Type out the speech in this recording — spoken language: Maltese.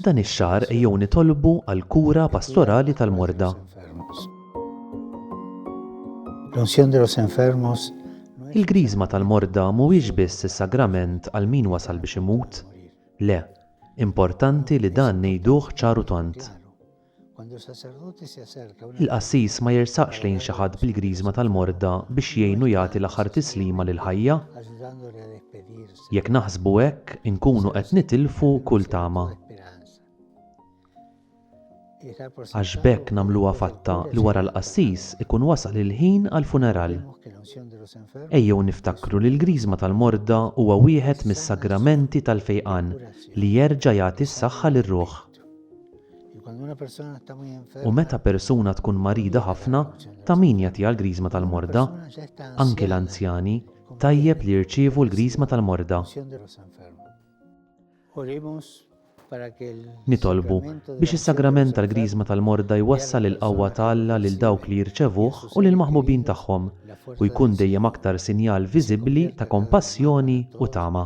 Dan ix-xahar ejjew nitolbu għall-kura pastorali tal-morda. Il-Griżma tal-morda mhuwiex biss is-sagrament għal min wasal biex imut. Le, importanti li dan ngħiduh ċar u tond. Il-qassis ma jersaqx lejn xi ħadd bil-griżma tal-morda biex jgħinu jagħti l-aħħar tislima lill-ħajja. Jekk naħsbu hekk, inkunu qed nitilfu kull tama. Għax b'hekk nagħmluha fatta li wara l-qassis ikun wasal il-ħin għall-funeral. Ejjew niftakru li l-griżma tal-morda huwa wieħed mis-sagramenti tal-fejqan li jerġa' jagħti s-saħħa lir-ruħ. U meta persuna tkun marida ħafna, ta' min jagħtiha l-Griżma tal-Morda? Anki l-anzjani, tajjeb li jirċievu l-Griżma tal-Morda. Nitolbu biex is-Sagrament tal-Griżma tal-Morda jwassal il-qawwa ta' Alla lil dawk li jirċevuh u lill-maħbubin tagħhom, u jkun dejjem aktar sinjal viżibbli ta' kompassjoni u tama.